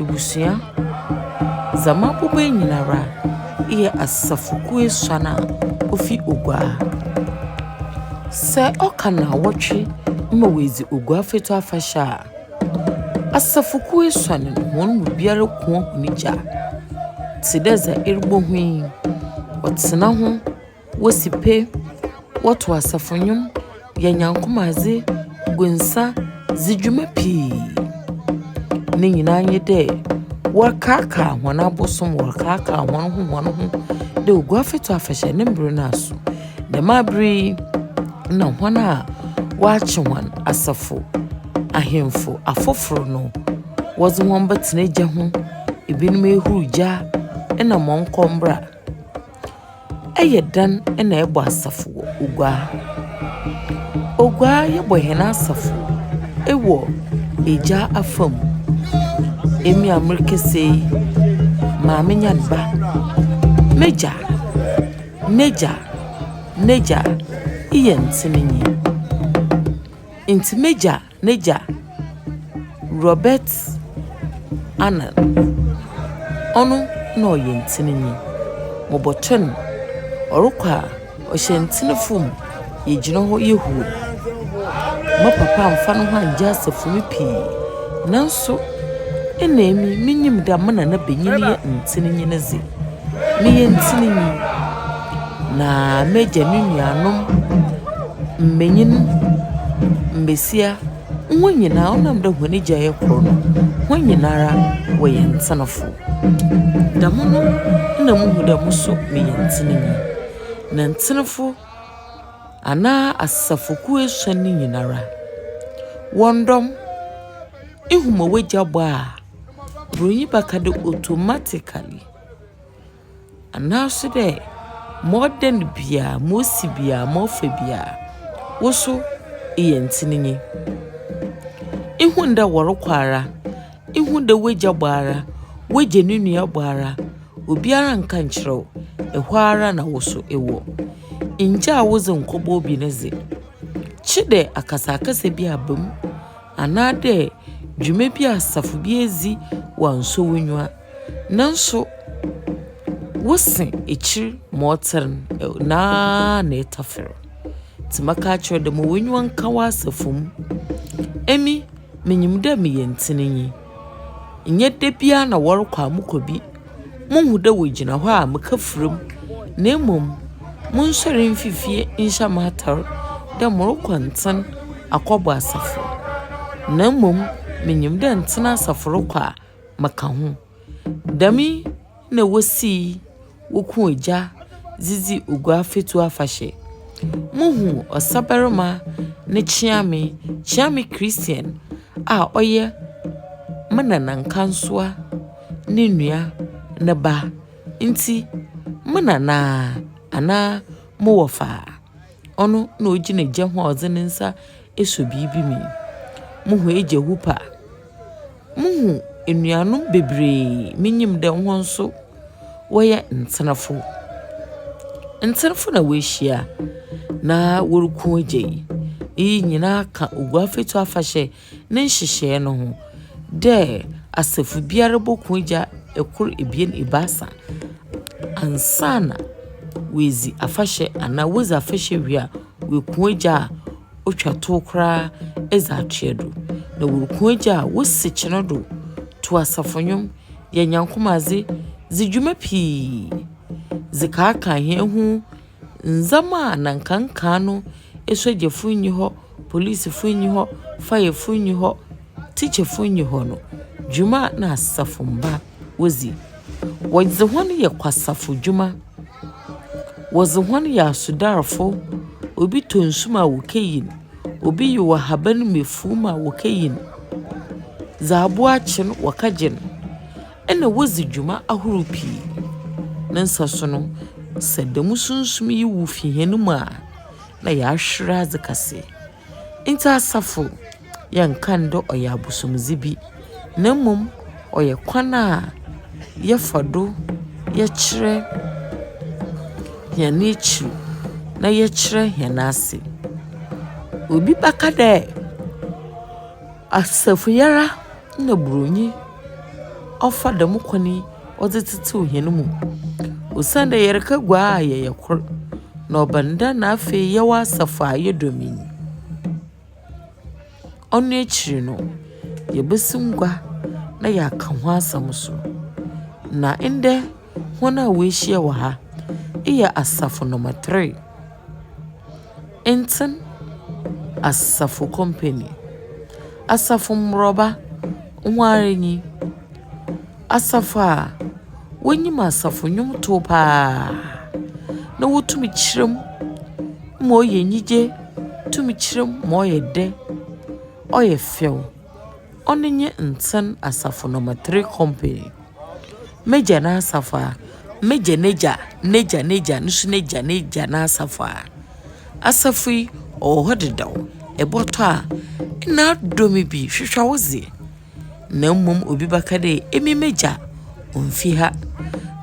Ebusua, dza m'abɔbɔe nyinara eyɛ asafokuw esuan a ofi Oguaa. Sɛ ɔka naawɔtwe ma woedzi Oguaa Fatu afahyɛ a, asafokuw esuan no hɔn mu biara kua hɔn gya tse dɛ dza erobohu yi, wɔtsena ho. Wosi pe, wɔtow asafo nnwom, yɛ Nyankopɔn adze, gu nsa dzi dwuma pii. Ne nyina nye dɛ wɔrekaakaa hɔn abosom, wɔrekaakaa hɔnho hɔnho dɛ Oguafɛtsu afahyɛ ne mber no aso. Dɛm aber yi na hɔn a wɔakye hɔn, asafo ahemfo afofor no, wɔdze hɔn bɛtsena gya ho, binom ehuruw gya na mɔnkɔmbra. Yɛ dan na ɛbɔ asafo wɔ Oguaa. Oguaa yɛbɔ hɛn asafo wɔ Egya afa mu. Emi a merekasa yi, maame nye me ba. M'egya, n'egya, n'egya eyɛ ntsenenyi. Ntsi m'egya. N'egya, Robert Arnold, ɔno na ɔyɛ ntsenenyi. Mobɔtɔ no, ɔrokɔ a, ɔhyɛ ntsene famu, yɛgyina hɔ yɛ huu. Mo papa ammfa noho anngye asafo mu pii, naaso nna emi minyim dɛ mo nanabanyin yɛ ntsenenyi ne dze. Meyɛ ntirinwi, na m'agya ne nuanom mbanyin, mbasia, hɔn nyina ɔnam dɛ hɔn egya yɛ kor no, hɔn nyinara wɔyɛ ntsenafo. Dɛm no na muhu dɛ mo so meyɛ ntsenenyi. Na ntsenefo anaa asafokuw esuon no nyinara, hɔn dɔm, ihu ma w'egya bɔ a. Buronyi baka dɛ automatically, anaaso dɛ ma ɔdan bia, ma osi bia, ma ɔfa bia, wo so eyɛ ntsenenyi. Ihun dɛ wɔrokɔ ara, ihun dɛ w'egya bɔ ara, w'egya no nua bɔ ara, obiara nnka nnkyerɛ wo, hɔ ara na wo so ewɔ. Nngyaa wodze nnkɔbɔ obi ne dze. Kye dɛ akasakasa bi aba mu. anaadɛ dwuma bi a asafo bi edzi wɔannsɔ w'enyiwa. Naaso wo se ekyir ma ɔtsen no ara na etafer. Ntsi mɛka akyerɛ wo dɛ ma w'enyiwa nka w'asafo mu. Emi minyim dɛ meyɛ ntsenenyi. Nnyɛ da biara na wɔrokɔ a mokɔ bi. Muhu dɛ wogyina hɔ a meka fura mu, na mmom monsoɛr mfi fie nhyɛ mo atar dɛ morokɔ ntsen akɔbɔ asafo. Na mmom minyim dɛ ntsen asafo rokɔ a meka ho. Dɛm yi . na wosii woku egya dze dzi Oguafatu afahyɛ. Muhu ɔsabarima ne kyeame, Kyeame Christian a ɔyɛ me nana Nkansua ne nua ne ba. Ntsi me nana anaa mo wɔfaa, ɔno na ogyina gya ho a ɔdze ne nsa. Eso biribi me. Muhu egya hoop a, muhu enuanom beberee, minyim dɛ hɔn so wɔyɛ ntsenafo. Ntsenafo na woehyia na woruku egya yi. Iyi nyina ka Oguafɛtu afahyɛ ne nhyehyɛɛ no ho dɛ asafo biara boku egya kor, ebien, ebiasa ansaana woedzi afahyɛ anaa wodzi afahyɛ wie a. Woeku egya a otwa tow koraa dze akyea do, na woeku egya a wosi kyen do tow asafo ndwom, yɛ Nyankom adze, dzi dwuma pii dze kaakã hɛn ho ndzɛmba a nna nka nkaa no, esogyafo nnyi hɔ, polisifo nnyi hɔ, fire fo nnyi hɔ, teacherfo nnyi hɔ no, dwuma a nna asafomba. wodzi. Wɔdze hɔn yɛ kwasafodwuma, wɔdze hɔn yɛ asodarfo, obi tɔ nsu ma wokeyi no, obi yew ahaban mu efuw mu a wokeyi no, dza abowa akye no wɔkɛgye no, nna wodzi dwuma ahorow pii. Ne nsaso no, sɛ dɛm sunsum yi wu fi hɛn mu a, nna yɛahwer adze kɛse. Ntsi asafo yɛnnka no dɛ ɔyɛ abosomdze bi, na mbom ɔyɛ kwan a yɛfa do yɛkyerɛ hɛn ekyir na yɛkyerɛ hɛn ase. Obi bɛka dɛ asafoyara na Buronyi ɔfa dɛm kwan yi. ɔdze tsetsew hɛn mu. Osiandɛ yɛreka gua a yɛyɛ kor, na ɔba no dɛ na afei yɛwɔ asafo a ayɛ dɔm yi. Ɔno ekyir no, yebosim gua na yɛakã ho asɛm so. Na ndɛ hɔn a woehyia wɔ ha, eyɛ asafo number three, Ntsen Asafo Company. Asafo mborba, hɔn ara nye yi. Asafo a wonyim asafo nnwomtow paa na wotum kyerɛ mu ma ɔyɛ enyigye, tum kyerɛ mu ma ɔyɛ dɛ, ɔyɛ fɛw. Ɔno nye Ntsen Asafo Number Three Company. M'egya n'asafo a, m'egya n'egya n'egya n'egya no so n'egya n'egya n'asafo a, asafo yi ɔwɔ hɔ dedaw. Ebɔtɔ a nna adɔ me bi, hwehwɛ wo dze. na mbom obi bɛka dɛ, Emi m'egya onnfi ha,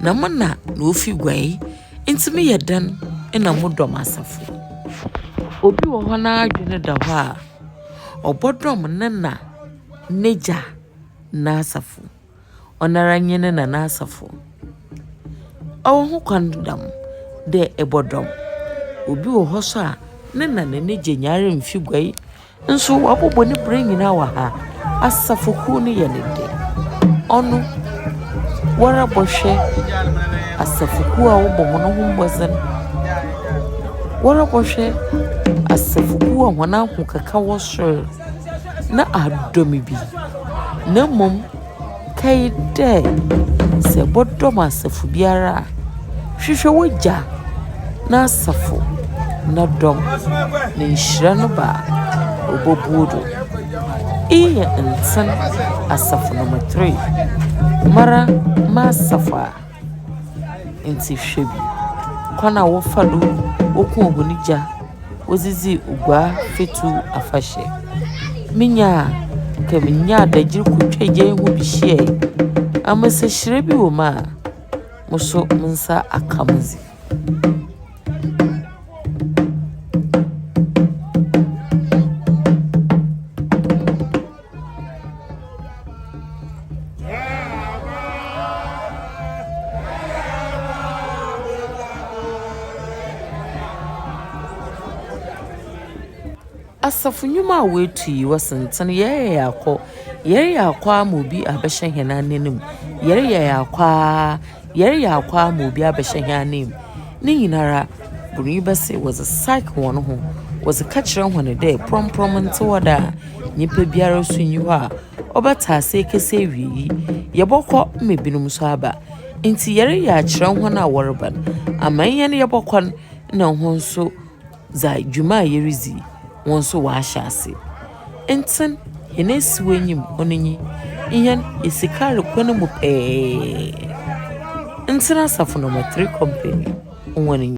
na mo na na ofi guai, ntsi meyɛ dɛn na modɔ m'asafo? Obi wɔ hɔ n'adwen da hɔ a, ɔbɔdɔm ne na, n'egya n'asafo. Ɔnoara nye ne na n'asafo. Ɔwɔ ho kwan dɛm dɛ ebɔdɔm. Obi wɔ hɔ so a, ne na na n'egya nyinara mmfi guai. Nso wɔabobɔ no berɛ nyinaa wɔ ha. Asafokuo no yɛ ne dɛ. Ɔno, woara bɔhwɛ asafokuo a wɔbɔ hɔn ho mbɔdzen. Woara bɔhwɛ asafokuo a hɔn ahokeka wɔ sor, na adɔ me bi. Na mmom. Kae dɛ, sɛ ebɔdɔm asafo biara a, hwehwɛ w'egya n'asafo no dɔm na nhyira no ba a, obobu wo do. Iyi yɛ ntsen asafo no mu three. Mara m'asafo a. Ntsi hwɛ bi, kwan a wɔfa do wokuo hɔn gya wɔdze dzii Oguaa Fatu afahyɛ. Minya a, nka minya adagyer kotwa gya yi ho bi hyiae. Ambasahyira bi wɔ mu a, mo so mo nsa aka me dze. Asafo nnwuma a woetu yi, wɔsentsen yɛreyɛ yɛakɔ, yɛreyɛ akɔ ara ma obi abɛhyɛ hɛn ananmu, yɛreyɛ yɛakɔ ara Yɛreyɛ akwaa ma obi abɛhyɛ hɛn ananmu. Ne nyinara, bornyi bɛ se wɔdze psych hɔn ho, wɔdze kɛkyerɛ hɔn dɛ prɔmprɔm nntse hɔ da a, nyimpa biara so nnyi hɔ a ɔbɛtse ase ekesi ewiei, yɛbɔkɔ ma binom so aba. Ntsi yɛreyɛ akyerɛ hɔn a wɔreba no, amanyɛ no yɛbɔkɔ no na hɔn so. Dza dwuma a yeridzi yi, hɔn so wɔahyɛ ase. Ntsɛn hɛn esiw enyim hɔ no nye hɛn esikar kwan mu pɛɛ. Ntsɛn asafo no mu, three company, hɔn nye.